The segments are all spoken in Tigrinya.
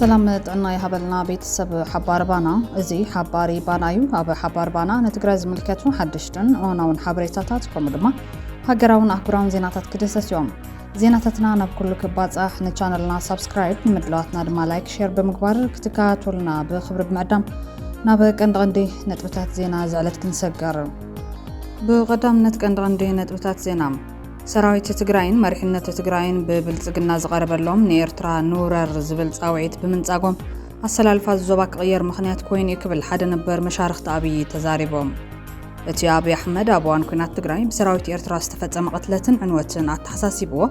ሰላም ጥዕና ይሃበልና ቤተሰብ ሓባር ባና እዚ ሓባሪ ባና እዩ ኣብ ሓባር ባና ንትግራይ ዝምልከቱ ሓደሽትን እዋናውን ሓበሬታታት ከምኡ ድማ ሃገራውን ኣህጉራውን ዜናታት ክድሰስ እዮም ዜናታትና ናብ ኩሉ ክባጻሕ ንቻነልና ሳብስክራይብ ንምድለዋትና ድማ ላይክ ሼር ብምግባር ክትከታተሉና ብክብሪ ብምዕዳም ናብ ቀንዲ ቀንዲ ነጥብታት ዜና ዝዕለት ክንሰገር ብቐዳምነት ቀንዲ ቀንዲ ነጥብታት ዜና ሰራዊት ትግራይን መሪሕነት ትግራይን ብብልጽግና ዝቐረበሎም ንኤርትራ ንውረር ዝብል ጻውዒት ብምንጻጎም ኣሰላልፋ ዞባ ክቕየር ምኽንያት ኮይኑ እዩ ክብል ሓደ ነበር መሻርኽቲ ኣብዪ ተዛሪቦም። እቲ ኣብይ ኣሕመድ ኣብ እዋን ኩናት ትግራይ ብሰራዊት ኤርትራ ዝተፈጸመ ቅትለትን ዕንወትን ኣተሓሳሲብዎ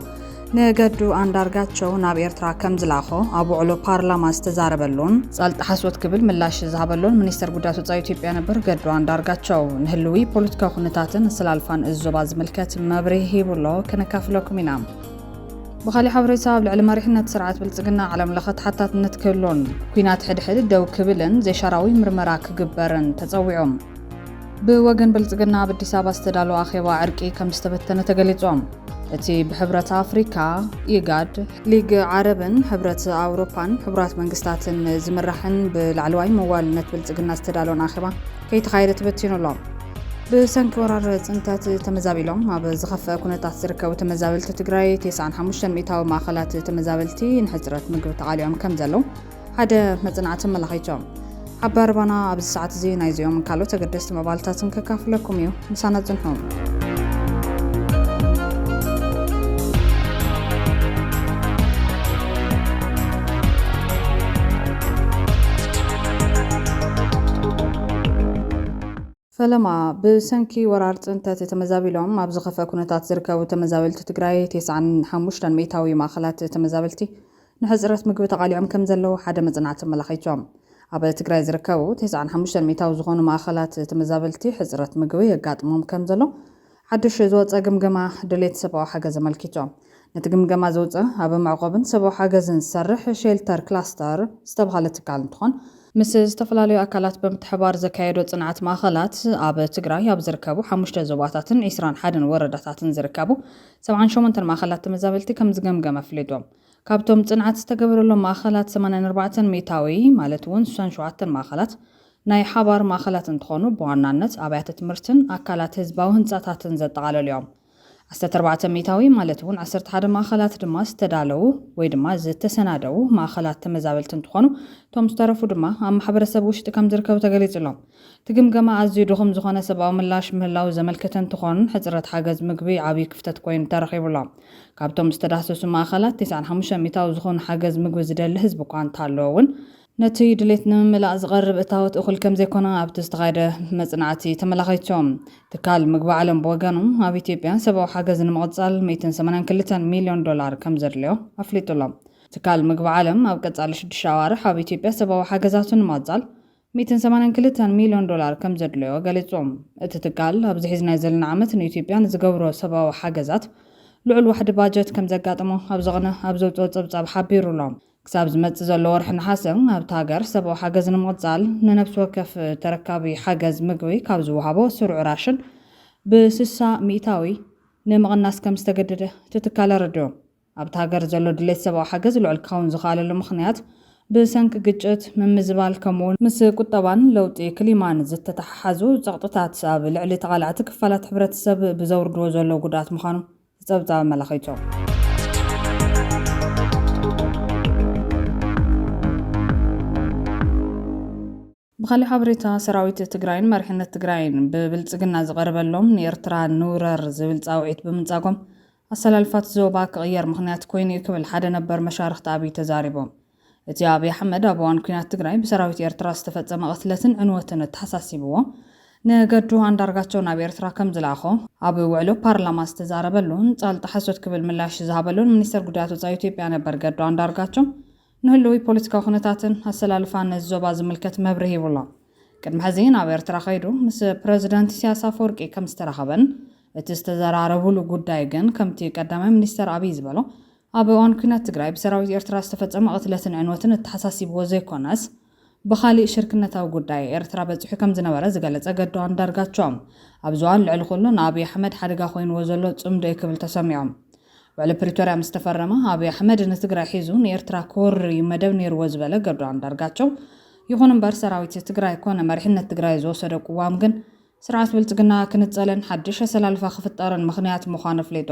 ንገዱ ኣንዳርጋቸው ናብ ኤርትራ ከም ዝላኾ ኣብ ውዕሎ ፓርላማ ዝተዛረበሉን ጻልጥ ሓሶት ክብል ምላሽ ዝሃበሉን ሚኒስተር ጉዳያት ወፃኢ ኢትዮጵያ ነበር ገዱ ኣንዳርጋቸው ንህልዊ ፖለቲካዊ ኩነታትን ስላልፋን እዚ ዞባ ዝምልከት መብርሂ ሂቡሎ ከነካፍለኩም ኢና። ብካሊእ ሓበሬታ ኣብ ልዕሊ መሪሕነት ስርዓት ብልጽግና ዓለም ለኸ ተሓታትነት ክህሉን ኩናት ሕድሕድ ደው ክብልን ዘይሻራዊ ምርመራ ክግበርን ተጸዊዑ። ብወገን ብልፅግና ኣብ ኣዲስ ኣበባ ዝተዳለወ ኣኼባ ዕርቂ ከም ዝተበተነ ተገሊፆም። እቲ ብሕብረት ኣፍሪካ፣ ኢጋድ፣ ሊግ ዓረብን ሕብረት ኣውሮፓን ሕቡራት መንግስታትን ዝምራሕን ብላዕለዋይ መዋልነት ብልፅግና ዝተዳለወን ኣኼባ ከይተኻየደ ተበቲኑ ኣሎ። ብሰንኪ ወራር ፅንተት ተመዛቢሎም ኣብ ዝኸፍአ ኩነታት ዝርከቡ ተመዛበልቲ ትግራይ 95 ሚእታዊ ማእኸላት ተመዛበልቲ ንሕፅረት ምግቢ ተቓሊዖም ከም ዘለዉ ሓደ መጽናዕቲ ኣመላኺቶም። ኣብ ኣረባና ኣብዚ ሰዓት እዚ ናይዚኦምን ካልኦት ኣገደስቲ መባልታትን ከካፍለኩም እዩ። ምሳና ጽንሑ። ፈለማ ብሰንኪ ወራር ፅንተት ተመዛቢሎም ኣብ ዝኸፈ ኩነታት ዝርከቡ ተመዛበልቲ ትግራይ 95 ሚእታዊ ማእኸላት ተመዛበልቲ ንሕፅረት ምግቢ ተቓሊዖም ከምዘለዉ ሓደ መፅናዕቲ ኣመላኺቱ። ኣብ ትግራይ ዝርከቡ ተስዓን ሓሙሽተን ሚእታዊ ዝኾኑ ማእኸላት ተመዛበልቲ ሕፅረት ምግቢ የጋጥሞም ከምዘሎ ሓዱሽ ዝወፀ ግምገማ ድሌት ሰብኣዊ ሓገዝ ኣመልኪቱ። ነቲ ግምገማ ዘውፀ ኣብ መዕቖብን ሰብኣዊ ሓገዝን ዝሰርሕ ሼልተር ክላስተር ዝተብሃለ ትካል እንትኾን፣ ምስ ዝተፈላለዩ ኣካላት ብምትሕብባር ዘካየዶ ፅንዓት ማእኸላት ኣብ ትግራይ ኣብ ዝርከቡ ሓሙሽተ ዞባታትን ዒስራን ሓደን ወረዳታትን ዝርከቡ ሰብዓን ሸሞንተን ማእኸላት ተመዛበልቲ ከምዝገምገመ ኣፍሊጡ። ካብቶም ፅንዓት ዝተገበረሎም ማእኸላት ሰማንያን ኣርባዕተን ሚእታዊ ማለት እውን ስሳን ሸውዓተን ማእኸላት ናይ ሓባር ማእኸላት እንትኾኑ ብዋናነት ኣብያተ ትምህርትን ኣካላት ህዝባዊ ህንፃታትን ዘጠቓለሉ እዮም። ዓሰርተ ኣርባዕተ ሚእታዊ ማለት እውን ዓሰርተ ሓደ ማእኸላት ድማ ዝተዳለዉ ወይ ድማ ዝተሰናደዉ ማእኸላት ተመዛበልቲ እንትኾኑ እቶም ዝተረፉ ድማ ኣብ ማሕበረሰብ ውሽጢ ከምዝርከቡ ተገሊፁ ኣሎ። እቲ ግምገማ ኣዝዩ ድኹም ዝኾነ ሰብኣዊ ምላሽ ምህላዉ ዘመልክት እንትኾን፣ ሕፅረት ሓገዝ ምግቢ ዓብዪ ክፍተት ኮይኑ ተረኺቡ ኣሎ። ካብቶም ዝተዳህሰሱ ማእኸላት ቴስዓን ሓሙሽተን ሚታዊ ዝኾኑ ሓገዝ ምግቢ ዝደሊ ህዝቢ እኳ እንተሃለወ እውን፣ ነቲ ድሌት ንምምላእ ዝቐርብ እታወት እኹል ከምዘይኮነ ኣብቲ ዝተኻየደ መፅናዕቲ ተመላኺቱ። ትካል ምግቢ ዓለም ብወገኑ፣ ኣብ ኢትዮጵያ ሰብኣዊ ሓገዝ ንምቕፃል ሚእትን ሰማንያን ክልተን ሚልዮን ዶላር ከምዘድልዮ ኣፍሊጡ ኣሎ። ትካል ምግቢ ዓለም ኣብ ቀፃሊ ሽዱሽተ ኣዋርሕ ኣብ ኢትዮጵያ ሰብኣዊ ሓገዛቱ ንምቕፃል ሚእትን ሰማንያን ክልተን ሚልዮን ዶላር ከምዘድለዮ ገሊጹ። እቲ ትካል ኣብዚ ሒዝናዮ ዘለና ዓመት ንኢትዮጵያ ንዝገብሮ ሰብኣዊ ሓገዛት ልዑል ዋሕዲ ባጀት ከምዘጋጠሞ ኣብ ዝቕነ ኣብ ዘውጽኦ ጸብጻብ ሓቢሩ'ሎ። ክሳብ ዝመጽእ ዘሎ ወርሒ ነሓሰ ኣብታ ሃገር ሰብኣዊ ሓገዝ ንምቕጻል ንነብሲ ወከፍ ተረካቢ ሓገዝ ምግቢ ካብ ዝወሃቦ ስሩዕ ራሽን ብስሳ ሚእታዊ ንምቕናስ ከምዝተገደደ እቲ ትካል ኣረዲኡ። ኣብታ ሃገር ዘሎ ድሌት ሰብኣዊ ሓገዝ ልዑል ክኸውን ዝኸኣለሉ ምኽንያት ብሰንኪ ግጭት፣ ምምዝባል ከምኡ'ውን ምስ ቁጠባን ለውጢ ክሊማን ዝተተሓሓዙ ጸቕጥታት ኣብ ልዕሊ ተቓላዕቲ ክፋላት ሕብረተሰብ ብዘውርድዎ ዘለዉ ጉድኣት ምዃኑ እቲ ጸብጻብ ኣመላኺቱ። ብኻሊእ ሓበሬታ ሰራዊት ትግራይን መሪሕነት ትግራይን ብብልፅግና ዝቐረበሎም ንኤርትራ ንውረር ዝብል ፃውዒት ብምንፃጎም ኣሰላልፋት ዞባ ክቕየር ምኽንያት ኮይኑ ዩ ክብል ሓደ ነበር መሻርኽቲ ኣብይ ተዛሪቦም። እቲ ኣብይ ኣሕመድ ኣብ እዋን ኲናት ትግራይ ብሰራዊት ኤርትራ ዝተፈፀመ ቕትለትን ዕንወትን ኣተሓሳሲብዎ ንገዱ ኣንዳርጋቸው ናብ ኤርትራ ከምዝለኣኾ ኣብ ውዕሎ ፓርላማ ዝተዛረበሉን ፃልጣ ሓሶት ክብል ምላሽ ዝሃበሉን ሚኒስተር ጉዳያት ወፃኢ ኢትዮጵያ ነበር ገዱ ኣንዳርጋቸው ንህልዊ ፖለቲካዊ ኩነታትን ኣሰላልፋን ነዚ ዞባ ዝምልከት መብርሂ ሂቡ'ሎ። ቅድሚ ሕዚ ናብ ኤርትራ ከይዱ ምስ ፕረዚደንት ኢሳያስ ኣፈወርቂ ከም ዝተራኸበን እቲ ዝተዘራረቡሉ ጉዳይ ግን ከምቲ ቀዳማይ ሚኒስተር ኣብይ ዝበሎ ኣብ እዋን ኲናት ትግራይ ብሰራዊት ኤርትራ ዝተፈጸመ ቅትለትን ዕንወትን እተሓሳሲብዎ ዘይኮነስ ብኻሊእ ሽርክነታዊ ጉዳይ ኤርትራ በጺሑ ከም ዝነበረ ዝገለጸ ገዱ ኣንዳርጋቸው፣ ኣብዚ እዋን ልዕሊ ኩሉ ንኣብይ ኣሕመድ ሓደጋ ኮይንዎ ዘሎ ጽምዶ'ዩ ክብል ተሰሚዑ። ውዕሊ ፕሪቶርያ ምስ ተፈረመ፣ ኣብይ ኣሕመድ ንትግራይ ሒዙ ንኤርትራ ክወርር'ዩ መደብ ኔርዎ ዝበለ ገዱ ኣንዳርጋቸው፣ ይኹን እምበር ሰራዊት ትግራይ ኮነ መሪሕነት ትግራይ ዝወሰዶ ቅዋም ግን ስርዓት ብልጽግና ክንጸልን ሓድሽ ኣሰላልፋ ክፍጠርን ምኽንያት ምዃኑ ኣፍሊጡ።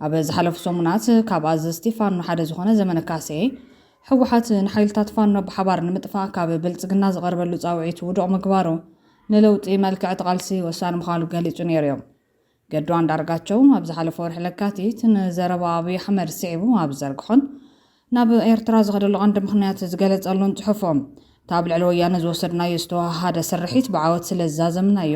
ኣብ ዝሓለፉ ሰሙናት ካብ ኣዘዝቲ ፋኖ ሓደ ዝኾነ ዘመነ ካሴ፣ ህወሓት ንሓይልታት ፋኖ ብሓባር ንምጥፋእ ካብ ብልፅግና ዝቐርበሉ ፃውዒት ውዱቕ ምግባሩ ንለውጢ መልክዕ እቲ ቓልሲ ወሳኒ ምዃሉ ገሊፁ ነይሩ ዩ። ገዱ ኣንዳርጋቸው ኣብ ዝሓለፈ ወርሒ ለካቲት ንዘረባ ኣብይ ኣሕመድ ስዒቡ ኣብ ዝዘርግሖን ናብ ኤርትራ ዝኸደሉ ቀንዲ ምኽንያት ዝገለጸሉን ጽሑፉ፣ እቲ ኣብ ልዕሊ ወያነ ዝወሰድናዮ ዝተወሃሃደ ስርሒት ብዓወት ስለ ዝዛዘምናዮ፣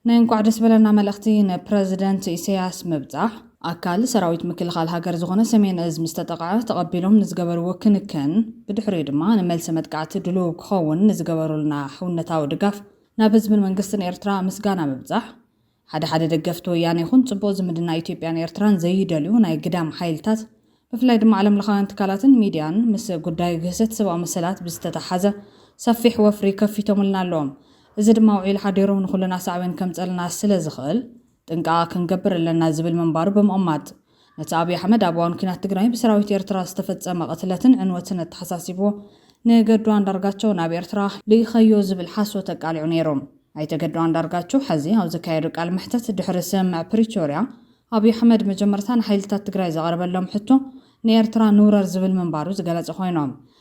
ናይ እንቋዕ ደስ በለና መልእኽቲ ንፕረዚደንት ኢሰያስ ምብጻሕ፣ ኣካል ሰራዊት ምክልኻል ሃገር ዝኾነ ሰሜን እዝ ምስ ተጠቕዐ ተቐቢሎም ንዝገበርዎ ክንክን፣ ብድሕሪኡ ድማ ንመልሰ መጥቃዕቲ ድሉው ክኸውን ንዝገበሩልና ሕውነታዊ ድጋፍ፣ ናብ ህዝብን መንግስትን ኤርትራ ምስጋና ምብጻሕ፣ ሓደ ሓደ ደገፍቲ ወያነ ይኹን ፅቡቕ ዝምድና ኢትዮጵያን ኤርትራን ዘይደልዩ ናይ ግዳም ሓይልታት ብፍላይ ድማ ዓለምለኻውያን ትካላትን ሚድያን ምስ ጉዳይ ግህሰት ሰብኣዊ መሰላት ብዝተተሓሓዘ ሰፊሕ ወፍሪ ከፊቶምልና ኣለዎም። እዚ ድማ ውዒሉ ሓዲሩ ንኹልና ሳዕቤን ከምፀልና ስለዝኽእል ጥንቃቐ ክንገብር ኣለና ዝብል ምንባሩ ብምቕማጥ ነቲ ኣብይ ኣሕመድ ኣብ እዋን ኲናት ትግራይ ብሰራዊት ኤርትራ ዝተፈጸመ ቅትለትን ዕንወትን ኣተሓሳሲብዎ ንገዱ ኣንዳርጋቸው ናብ ኤርትራ ልኢኸዮ ዝብል ሓሶት ኣቃሊዑ ነይሩ። ኣይተ ገዱ ኣንዳርጋቸው ሐዚ ኣብ ዘካየዶ ቃለ መሕተት ድሕሪ ስምምዕ ፕሪቶርያ ኣብይ ኣሕመድ መጀመርታ ንሓይልታት ትግራይ ዘቐረበሎም ሕቶ ንኤርትራ ንውረር ዝብል ምንባሩ ዝገለጸ ኮይኑ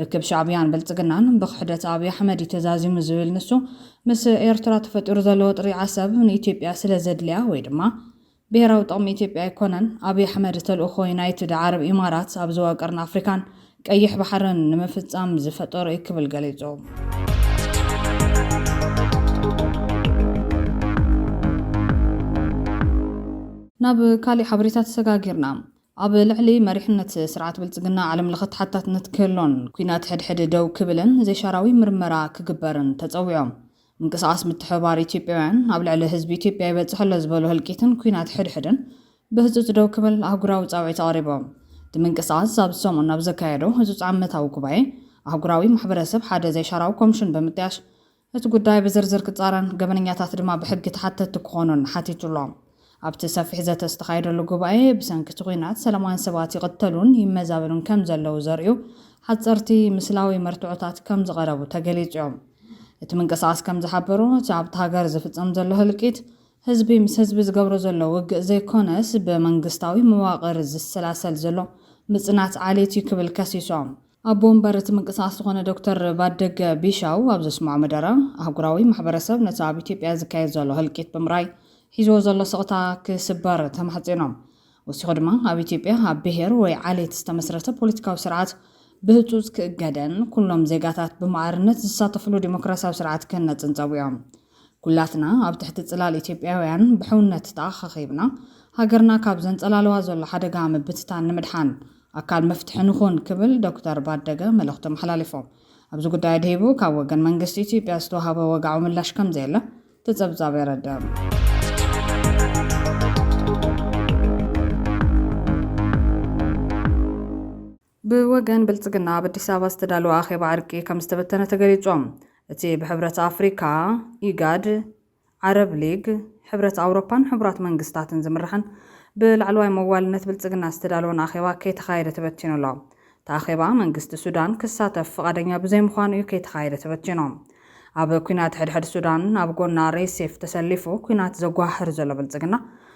ርክብ ሻዕብያን ብልጽግናን ብኽሕደት ኣብይ ኣሕመድ እዩ ተዛዚሙ ዝብል ንሱ፣ ምስ ኤርትራ ተፈጢሩ ዘሎ ወጥሪ ዓሰብ ንኢትዮጵያ ስለ ዘድልያ ወይ ድማ ብሄራዊ ጥቕሚ ኢትዮጵያ ኣይኮነን። ኣብይ ኣሕመድ ተልእኾ ዩናይትድ ዓረብ ኢማራት ኣብ ዞባ ቀርኒ ኣፍሪካን ቀይሕ ባሕርን ንምፍጻም ዝፈጠሮ እዩ ክብል ገሊጹ። ናብ ካሊእ ሓበሬታ ተሰጋጊርና። ኣብ ልዕሊ መሪሕነት ስርዓት ብልፅግና ዓለም ለኸ ተሓታትነት ክህሎን ኲናት ሕድሕድ ደው ክብልን ዘይሻራዊ ምርመራ ክግበርን ተፀዊዖም። ምንቅስቓስ ምትሕብባር ኢትዮጵያውያን ኣብ ልዕሊ ህዝቢ ኢትዮጵያ ይበፅሕ ኣሎ ዝበሎ ህልቂትን ኲናት ሕድሕድን ብህፁፅ ደው ክብል ኣህጉራዊ ፃውዒት ኣቕሪቦም። እቲ ምንቅስቓስ ኣብዚ ሰሙን ኣብ ዘካየዶ ህፁፅ ዓመታዊ ጉባኤ ኣህጉራዊ ማሕበረሰብ ሓደ ዘይሻራዊ ኮምሽን ብምጥያሽ እቲ ጉዳይ ብዝርዝር ክጻረን ገበነኛታት ድማ ብሕጊ ተሓተትቲ ክኾኑን ሓቲቱ'ሎ። ኣብቲ ሰፊሕ ዘተ ዝተኻየደሉ ጉባኤ፣ ብሰንኪ እቲ ኲናት ሰላማውያን ሰባት ይቕተሉን ይመዛበሉን ከም ዘለዉ ዘርእዩ ሓጸርቲ ምስላዊ መርትዖታት ከም ዝቐረቡ ተገሊጹ'ዩ። እቲ ምንቅስቓስ ከም ዝሓበሮ፣ እቲ ኣብታ ሃገር ዝፍጸም ዘሎ ህልቂት፣ ህዝቢ ምስ ህዝቢ ዝገብሮ ዘሎ ውግእ ዘይኮነስ፣ ብመንግስታዊ መዋቕር ዝሰላሰል ዘሎ ምጽናት ዓሌት'ዩ ክብል ከሲሶም። ኣቦ ወንበር እቲ ምንቅስቓስ ዝኾነ ዶክተር ባደገ ቢሻው ኣብ ዘስምዖ መደረ፣ ኣህጉራዊ ማሕበረሰብ ነቲ ኣብ ኢትዮጵያ ዝካየድ ዘሎ ህልቂት ብምርኣይ ሒዝዎ ዘሎ ስቕታ ክስበር ተማሕጺኖም። ወሲኹ ድማ ኣብ ኢትዮጵያ ኣብ ብሄር ወይ ዓሌት ዝተመስረተ ፖለቲካዊ ስርዓት ብህጹጽ ክእገድን ኩሎም ዜጋታት ብማዕርነት ዝሳተፍሉ ዲሞክራስያዊ ስርዓት ክህነጽን ጸዊዖም። ኩላትና ኣብ ትሕቲ ጽላል ኢትዮጵያውያን ብሕውነት ተኣኻኺብና ሃገርና ካብ ዘንጸላልዋ ዘሎ ሓደጋ ምብትታን ንምድሓን ኣካል መፍትሒ ንኹን ክብል ዶክተር ባደገ መልእኽቱ ኣመሓላሊፎም። ኣብዚ ጉዳይ ኣድሂቡ ካብ ወገን መንግስቲ ኢትዮጵያ ዝተዋህበ ወግዓዊ ምላሽ ከምዘየለ እቲ ጸብጻብ የረድእ። ብወገን ብልፅግና ኣብ ኣዲስ ኣበባ ዝተዳለወ ኣኼባ ዕርቂ ከምዝተበተነ ተገሊፁ። እቲ ብሕብረት ኣፍሪካ፣ ኢጋድ፣ ዓረብ ሊግ፣ ሕብረት ኣውሮፓን ሕቡራት መንግስታትን ዝምራሕን ብላዕለዋይ መዋልነት ብልፅግና ዝተዳለወን ኣኼባ ከይተኻየደ ተበቲኑ ኣሎ። እቲ ኣኼባ መንግስቲ ሱዳን ክሳተፍ ፍቓደኛ ብዘይምዃኑ እዩ ከይተኻየደ ተበቲኑ። ኣብ ኲናት ሕድሕድ ሱዳን ኣብ ጎና ሬሴፍ ተሰሊፉ ኲናት ዘጓህር ዘሎ ብልፅግና፣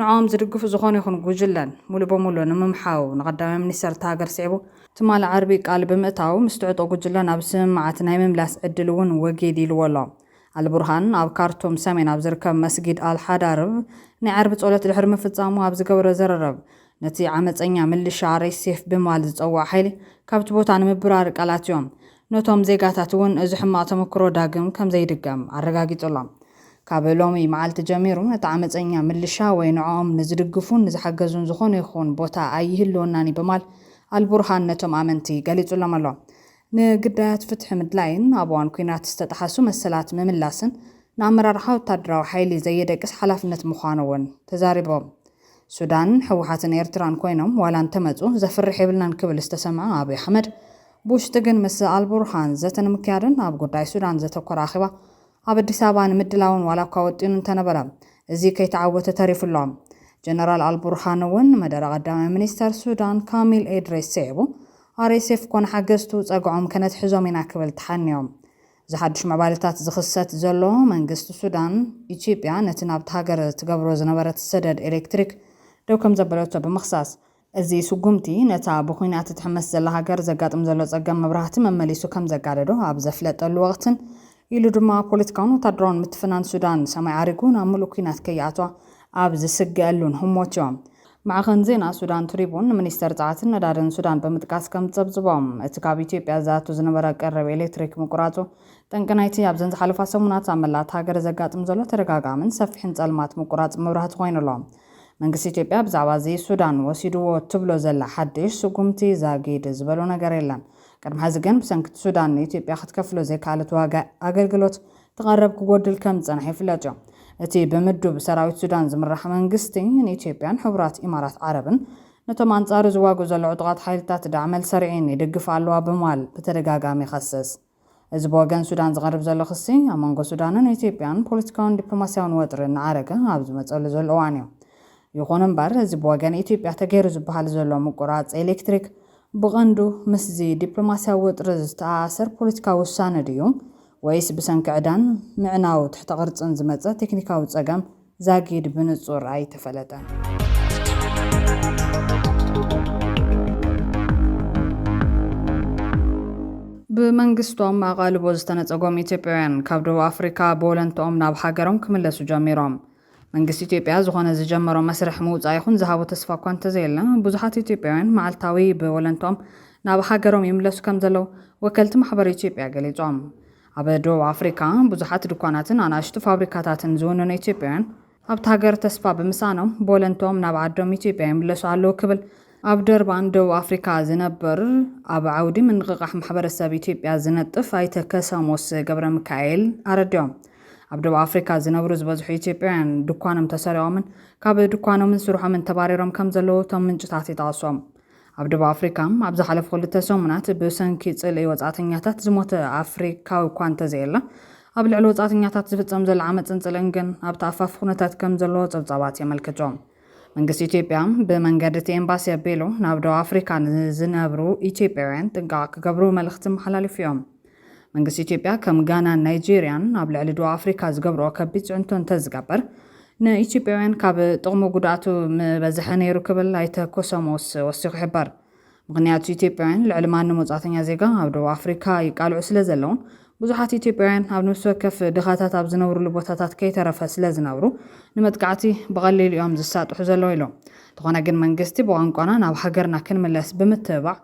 ንዕኦም ዝድግፉ ዝኾኑ ይኹን ጉጅለን ሙሉእ ብሙሉእ ንምምሓው ንቀዳማይ ሚኒስተር እታ ሃገር ስዒቡ ትማሊ ዓርቢ ቃል ብምእታው ምስ ትዕጦ ጉጅለ ናብ ስምምዓት ናይ ምምላስ ዕድል እውን ወጊድ ኢልዎ ኣሎ። ኣልቡርሃን ኣብ ካርቱም ሰሜን ኣብ ዝርከብ መስጊድ ኣልሓዳርብ ናይ ዓርቢ ጸሎት ድሕሪ ምፍጻሙ ኣብ ዝገበሮ ዝርርብ ነቲ ዓመጸኛ ምልሻ RSF ብምባል ዝጸውዖ ሓይሊ ካብቲ ቦታ ንምብራር ቃል ኣትዮም ነቶም ዜጋታት እውን እዚ ሕማቕ ተመክሮ ዳግም ከም ዘይድገም ኣረጋጊጹሎም። ካብ ሎሚ መዓልቲ ጀሚሩ ነቲ ዓመጸኛ ምልሻ ወይ ንዕኦም ንዝድግፉን ንዝሓገዙን ዝኾነ ይኹን ቦታ ኣይህልወናን እዩ ብማል ኣልቡርሃን ነቶም ኣመንቲ ገሊጹሎም ኣሎ። ንግዳያት ፍትሒ ምድላይን ኣብ እዋን ኲናት ዝተጠሓሱ መሰላት ምምላስን ንኣመራርሓ ወታደራዊ ሓይሊ ዘየደቅስ ሓላፍነት ምዃኑ እውን ተዛሪቦም። ሱዳን፣ ህወሓትን ኤርትራን ኮይኖም ዋላ እንተመጹ ዘፍርሕ የብልናን ክብል ዝተሰምዐ ኣብይ ኣሕመድ፣ ብውሽጢ ግን ምስ ኣልቡርሃን ዘተ ንምክያድን ኣብ ጉዳይ ሱዳን ዘተኮረ ኣኼባ ኣብ ኣዲስ ኣበባ ንምድላውን ዋላኳ ወጢኑ እንተነበረ እዚ ከይተዓወተ ተሪፉ ኣሎ። ጀነራል ኣልቡርሃን እውን መደረ ቀዳማይ ሚኒስተር ሱዳን ካሚል ኤድሪስ ስዒቡ RSF ኮነ ሓገዝቱ ጸግዖም ከነትሕዞም ኢና ክብል ተሓንዮ። እዚ ሓዱሽ ምዕባለታት ዝኽሰት ዘሎ መንግስቲ ሱዳን ኢትዮጵያ ነቲ ናብታ ሃገር ትገብሮ ዝነበረት ሰደድ ኤሌክትሪክ ደው ከምዘበለቶ ብምኽሳስ እዚ ስጉምቲ፣ ነታ ብዂናት ትትሕመስ ዘላ ሃገር ዘጋጥም ዘሎ ጸገም መብራህቲ መመሊሱ ከም ዘጋደዶ ኣብ ዘፍለጠሉ ወቕትን፣ ኢሉ ድማ ፖለቲካውን ወታደራውን ምትፍናን ሱዳን ሰማይ ዓሪጉ ናብ ምሉእ ኲናት ከይኣትዋ ኣብ ዝስገኣሉን ህሞትዮ። ማዕኸን ዜና ሱዳን ትሪቡን ንሚኒስተር ጸዓትን ነዳድን ሱዳን ብምጥቃስ ከም ዝጸብጽቦ፣ እቲ ካብ ኢትዮጵያ ዝኣቱ ዝነበረ ቀረብ ኤሌክትሪክ ምቁራጹ፣ ጠንቂ ናይቲ ኣብዘን ዝሓለፋ ሰሙናት ኣብ መላእ እታ ሃገር ዘጋጥም ዘሎ ተደጋጋምን ሰፊሕን ጸልማት ምቁራጽ መብራህቲ ኮይኑ ኣሎ። መንግስቲ ኢትዮጵያ ብዛዕባ እዚ ሱዳን ወሲድዎ ትብሎ ዘላ ሓድሽ ስጉምቲ ዛጊድ ዝበሎ ነገር የለን። ቅድሚ ሐዚ ግን ብሰንኪ እቲ ሱዳን ንኢትዮጵያ ክትከፍሎ ዘይከኣለት ዋጋ ኣገልግሎት እቲ ቀረብ ክጎድል ከም ዝፀንሐ ይፍለጥ እዩ። እቲ ብምዱብ ሰራዊት ሱዳን ዝምራሕ መንግስቲ ንኢትዮጵያን ሕቡራት ኢማራት ዓረብን ነቶም ኣንፃሩ ዝዋግኡ ዘለዑ ዕጡቓት ሓይልታት ዳዕመል-ሰሪዒን ይድግፋ ኣለዋ ብምባል ብተደጋጋሚ ይኸስስ። እዚ ብወገን ሱዳን ዝቐርብ ዘሎ ክሲ፣ ኣብ መንጎ ሱዳንን ኢትዮጵያን ፖለቲካውን ዲፕሎማስያውን ወጥሪ እናዓረገ ኣብ ዝመጸሉ ዘሎ እዋን'ዩ። ይኹን እምበር፣ እዚ ብወገን ኢትዮጵያ ተገይሩ ዝበሃል ዘሎ ምቁራጽ ኤሌክትሪክ፣ ብቐንዱ ምስዚ ዲፕሎማስያዊ ወጥሪ ዝተኣኣሰር ፖለቲካዊ ውሳነ ድዩ ወይስ ብሰንኪ ዕዳን ምዕናው ትሕተ-ቅርጽን ዝመጸ ቴክኒካዊ ጸገም ዛጊድ ብንጹር ኣይተፈለጠን። ብመንግስቶም ኣቓልቦ ዝተነጸጎም ኢትዮጵያውያን ካብ ደቡብ ኣፍሪካ ብወለንትኦም ናብ ሃገሮም ክምለሱ ጀሚሮም። መንግስቲ ኢትዮጵያ ዝኾነ ዝጀመሮ መስርሕ ምውጻእ ይኹን ዝሃቦ ተስፋ እኳ እንተዘየለ፣ ብዙሓት ኢትዮጵያውያን መዓልታዊ ብወለንትኦም ናብ ሃገሮም ይምለሱ ከምዘለዉ ወከልቲ ማሕበር ኢትዮጵያ ገሊጾም። ኣብ ደቡብ ኣፍሪካ ብዙሓት ድኳናትን ኣናእሽቱ ፋብሪካታትን ዝውንኑ ኢትዮጵያውያን ኣብታ ሃገር ተስፋ ብምስኣኖም ቦለንትኦም ናብ ዓዶም ኢትዮጵያ ይምለሱ ኣለዉ ክብል ኣብ ደርባን ደቡብ ኣፍሪካ ዝነብር ኣብ ዓውዲ ምንቕቓሕ ማሕበረሰብ ኢትዮጵያ ዝነጥፍ ኣይተ ከሰሞስ ገብረሚካኤል ኣረዲኦም። ኣብ ደቡብ ኣፍሪካ ዝነብሩ ዝበዝሑ ኢትዮጵያውያን ድኳኖም ተሰሪቖምን ካብ ድኳኖምን ስርሖምን ተባሪሮም ከምዘለዉ እቶም ምንጭታት ይጠቕሱ። ኣብ ደቡብ ኣፍሪካ ኣብ ዝሓለፉ ክልተ ሰሙናት ብሰንኪ ጽልኢ ወጻእተኛታት ዝሞተ ኣፍሪካዊ እኳ እንተዘየለ ኣብ ልዕሊ ወጻእተኛታት ዝፍጸም ዘሎ ዓመፅን ጽልእን ግን ኣብ ተኣፋፊ ኩነታት ከም ዘለዎ ጸብጻባት የመልክቱ። መንግስቲ ኢትዮጵያ ብመንገዲ እቲ ኤምባሲ ኣቢሉ ናብ ደቡብ ኣፍሪካ ንዝነብሩ ኢትዮጵያውያን ጥንቃቐ ክገብሩ መልእኽቲ ኣመሓላሊፉ እዩ። መንግስቲ ኢትዮጵያ ከም ጋናን ናይጀርያን ኣብ ልዕሊ ዶብ ኣፍሪካ ዝገብርኦ ከቢድ ፅዕንቶ እንተዝገብር ንኢትዮጵያውያን ካብ ጥቕሙ ጉድኣቱ ምበዝሐ ነይሩ ክብል ኣይተ ኮሶሞስ ወሲኹ ይሕበር። ምኽንያቱ ኢትዮጵያውያን ልዕሊ ማንም ወፃእተኛ ዜጋ ኣብ ዶብ ኣፍሪካ ይቃልዑ ስለዘለውን ብዙሓት ኢትዮጵያውያን ኣብ ነብሲ ወከፍ ድኻታት ኣብ ዝነብርሉ ቦታታት ከይተረፈ ስለዝነብሩ ንመጥቃዕቲ ብቐሊሉ እዮም ዝሳጥሑ ዘለዉ ኢሎም። እንተኾነ ግን መንግስቲ ብቋንቋና ናብ ሃገርና ክንምለስ ብምትብባዕ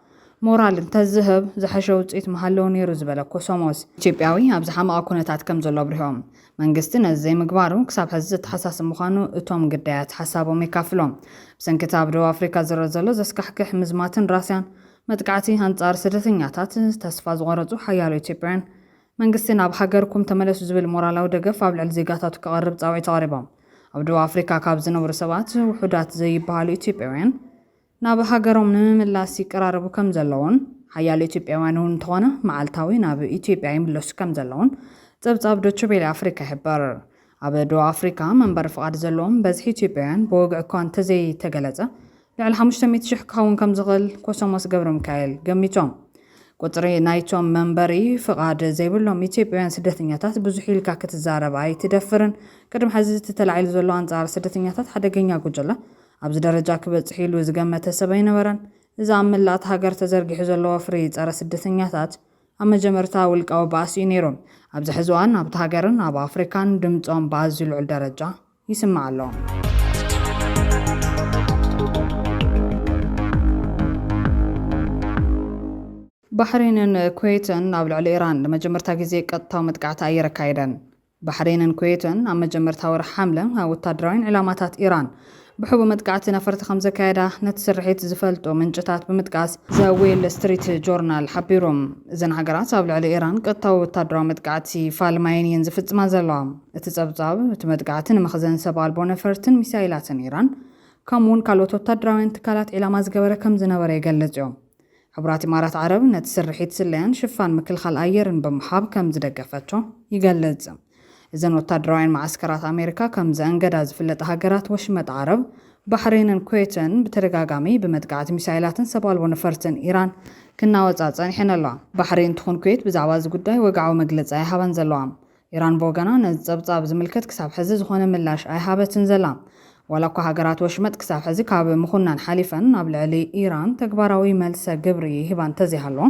ሞራል እንተዝህብ ዝሐሸ ውፅኢት ምሃለወ ነይሩ ዝበለ ኮሶሞስ፣ ኢትዮጵያዊ ኣብ ዝሓመቐ ኩነታት ከምዘሎ ኣብሪሆም። መንግስቲ ነዚ ዘይምግባሩ ክሳብ ሐዚ ዘተሓሳስብ ምዃኑ እቶም ግዳያት ሓሳቦም የካፍሎም። ብሰንኪ እቲ ኣብ ደቡብ ኣፍሪካ ዝረእ ዘሎ ዘስካሕክሕ ምዝማትን ራስያን መጥቃዕቲ ኣንፃር ስደተኛታት ተስፋ ዝቖረፁ ሓያሎ ኢትዮጵያውያን መንግስቲ ናብ ሃገርኩም ተመለሱ ዝብል ሞራላዊ ደገፍ ኣብ ልዕሊ ዜጋታቱ ከቐርብ ፃውዒት ኣቕሪቦም። ኣብ ደቡብ ኣፍሪካ ካብ ዝነብሩ ሰባት ውሑዳት ዘይበሃሉ ኢትዮጵያውያን ናብ ሃገሮም ንምምላስ ይቀራረቡ ከም ዘለዉን፣ ሓያሎ ኢትዮጵያውያን'ውን እንተኾነ መዓልታዊ ናብ ኢትዮጵያ ይምለሱ ከም ዘለዉን ጸብጻብ ዶቸቤለ ኣፍሪካ ይሕብር። ኣብ ዶብ ኣፍሪካ መንበሪ ፍቓድ ዘለዎም በዝሒ ኢትዮጵያውያን ብወግዒ እኳ እንተዘይተገለጸ ልዕሊ ሓሙሽተ ሚእቲ ሽሕ ክኸውን ከም ዝኽእል ኮሶሞስ ገብረሚካኤል ገሚቶም። ቁጽሪ ናይቶም መንበሪ ፍቓድ ዘይብሎም ኢትዮጵያውያን ስደተኛታት ብዙሕ ኢልካ ክትዛረብ ኣይትደፍርን። ቅድሚ ሕዚ እቲ ተላዒሉ ዘሎ ኣንጻር ስደተኛታት ሓደገኛ ጉጅለ ኣብዚ ደረጃ ክበጽሕ ኢሉ ዝገመተ ሰብ ኣይነበረን። እዚ ኣብ መላእ'ታ ሃገር ተዘርጊሑ ዘሎ ወፍሪ ጸረ ስደተኛታት፣ ኣብ መጀመርታ ውልቃዊ ባእሲ'ዩ ነይሩ። ኣብዚ ሕዚ እዋን ኣብታ ሃገርን ኣብ ኣፍሪካን ድምጾም ብኣዝዩ ልዑል ደረጃ ይስማዕ ኣሎ። ባሕሬንን ኩዌትን ኣብ ልዕሊ ኢራን ንመጀመርታ ግዜ ቀጥታዊ መጥቃዕቲ ኣየር ኣካይደን። ባሕሬንን ኩዌትን ኣብ መጀመርታ ወርሒ ሓምለ ኣብ ወታደራውያን ዒላማታት ኢራን ብሕቡእ መጥቃዕቲ ነፈርቲ ከምዘካየዳ ነቲ ስርሒት ዝፈልጡ ምንጭታት ብምጥቃስ ዘ ዌል ስትሪት ጆርናል ሓቢሩ። እዘን ሃገራት ኣብ ልዕሊ ኢራን ቀጥታዊ ወታደራዊ መጥቃዕቲ ፋልማየን እየን ዝፍጽማ ዘለዋ። እቲ ጸብጻብ፣ እቲ መጥቃዕቲ ንመኽዘን ሰብ ኣልቦ ነፈርትን ሚሳይላትን ኢራን ከምኡ'ውን ካልኦት ወታደራውያን ትካላት ዒላማ ዝገበረ ከምዝነበረ ይገልጽ'ዩ። ሕቡራት ኢማራት ዓረብ ነቲ ስርሒት ስለያን ሽፋን ምክልኻል ኣየርን ብምሃብ ከም ዝደገፈቶ ይገልጽ። እዘን ወታደራውያን መዓስከራት ኣሜሪካ ከም ዘእንገዳ ዝፍለጣ ሃገራት ወሽመጥ ዓረብ፣ ባሕሬንን ኩዌትን ብተደጋጋሚ ብመጥቃዕቲ ሚሳይላትን ሰብ ኣልቦ ነፈርትን ኢራን ክናወጻ ጸኒሐን ኣለዋ። ባሕሬን ትኹን ኩዌት ብዛዕባ እዚ ጉዳይ ወግዓዊ መግለጺ ኣይሃባን ዘለዋ። ኢራን ብወገና ነዚ ጸብጻብ ዝምልከት ክሳብ ሕዚ ዝኾነ ምላሽ ኣይሃበትን ዘላ። ዋላኳ ሃገራት ወሽመጥ ክሳብ ሕዚ ካብ ምኹናን ሓሊፈን ኣብ ልዕሊ ኢራን ተግባራዊ መልሰ ግብሪ ይህባ እንተዘይሃለዋ፣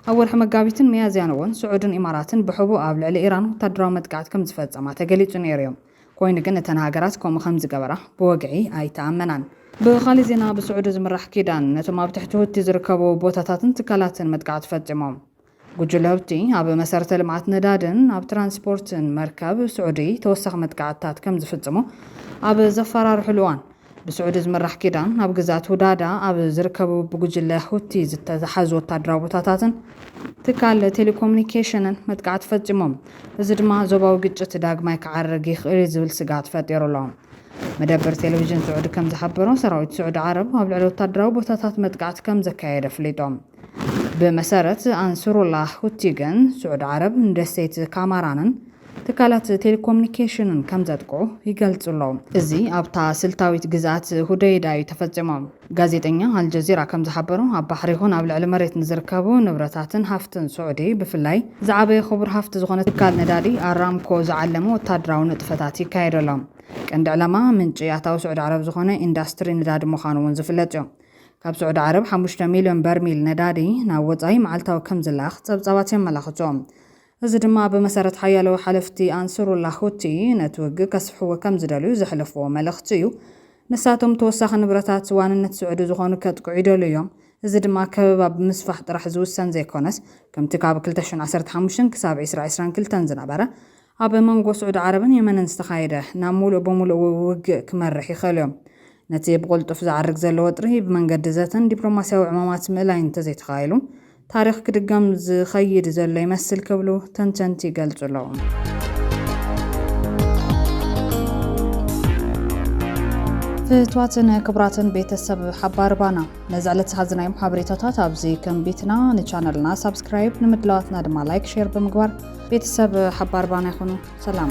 ኣብ ወርሒ መጋቢትን ሚያዝያን እውን ስዑድን ኢማራትን ብሕቡእ ኣብ ልዕሊ ኢራን ወታደራዊ መጥቃዕቲ ከምዝፈጸማ ተገሊጹ ነይሩ'ዩ። ኮይኑ ግን እተን ሃገራት ከምኡ ከምዝገበራ ብወግዒ ኣይተኣመናን። ብኻልእ ዜና ብስዑዲ ዝምራሕ ኪዳን ነቶም ኣብ ትሕቲ ሁቲ ዝርከቡ ቦታታትን ትካላትን መጥቃዕቲ ፈጺሞም። ጉጅለ ሁቲ ኣብ መሰረተ ልምዓት ነዳድን ኣብ ትራንስፖርትን መርከብ ስዑዲ ተወሳኺ መጥቃዕትታት ከም ዝፍጽሙ ኣብ ዘፈራርሑሉ እዋን፣ ብስዑዲ ዝምራሕ ኪዳን ኣብ ግዝኣት ሁዳዳ ኣብ ዝርከቡ ብጉጅለ ሁቲ ዝተታሓዙ ወታደራዊ ቦታታትን ትካል ቴሌኮሙኒኬሽንን መጥቃዕቲ ፈጺሞም። እዚ ድማ ዞባዊ ግጭት ዳግማይ ክዓርግ ይኽእል እዩ ዝብል ስግኣት ፈጢሩ ኣሎ። መደበር ቴሌቪዥን ስዑዲ ከም ዝሓበሮ፣ ሰራዊት ስዑዲ ዓረብ ኣብ ልዕሊ ወታደራዊ ቦታታት መጥቃዕቲ ከም ዘካየድ ኣፍሊጦም። ብመሰረት ኣንስሩላህ ሁቲ ግን፣ ስዑድ ዓረብ ንደሴት ካማራንን ትካላት ቴሌኮምኒኬሽንን ከም ዘጥቅዑ ይገልጹ ኣለዉ። እዚ ኣብታ ስልታዊት ግዝኣት ሁደይዳ እዩ ተፈጺሙ። ጋዜጠኛ ኣልጀዚራ ከም ዝሓበሮ፣ ኣብ ባሕሪ ይኹን ኣብ ልዕሊ መሬት ንዝርከቡ ንብረታትን ሃፍትን ስዑዲ፣ ብፍላይ ዝዓበየ ክቡር ሃፍቲ ዝኾነ ትካል ነዳዲ ኣራምኮ ዝዓለመ ወተሃደራዊ ንጥፈታት ይካየዱ ኣሎ። ቀንዲ ዕላማ ምንጪ ኣታዊ ስዑዲ ዓረብ ዝኾነ ኢንዳስትሪ ነዳዲ ምዃኑ እውን ዝፍለጥ እዩ። ካብ ስዑዲ ዓረብ ሓሙሽተ ሚልዮን በርሚል ነዳዲ ናብ ወጻኢ መዓልታዊ ከም ዝላኣኽ ጸብጻባት የመላኽቱ። እዚ ድማ ብመሰረት ሓያሎ ሓለፍቲ ኣንስሩላህ ሁቲ፣ ነቲ ውግእ ከስፍሕዎ ከም ዝደልዩ ዘሕለፍዎ መልእኽቲ እዩ። ንሳቶም ተወሳኺ ንብረታት ዋንነት ስዑዲ ዝኾኑ ከጥቅዑ ይደልዩ እዮም። እዚ ድማ ከበባ ብምስፋሕ ጥራሕ ዝውሰን ዘይኮነስ፣ ከምቲ ካብ ክልተ ሽሕን ዓሰርተ ሓሙሽተን ክሳብ ዕስራ ዕስራን ክልተን ዝነበረ፣ ኣብ መንጎ ስዑዲ ዓረብን የመንን ዝተኻየደ ናብ ምሉእ ብምሉእ ውግእ ክመርሕ ይኽእልዮ። ነቲ ብቕልጡፍ ዝዓርግ ዘሎ ወጥሪ ብመንገዲ ዘተን ዲፕሎማስያዊ ዕማማት ምእላይ እንተዘይተኻኢሉ፣ ታሪኽ ክድገም ዝኸይድ ዘሎ ይመስል ክብሉ ተንተንቲ ይገልጹ ኣለዉ። ፍትዋትን ክብራትን ቤተሰብ ሓባር ባና ነዚ ዕለት ዝሓዝናዮም ሓበሬታታት ኣብዚ ከም ቤትና ንቻነልና ሳብስክራይብ ንምድላዋትና ድማ ላይክ ሼር ብምግባር ቤተሰብ ሓባር ባና ይኹኑ ሰላም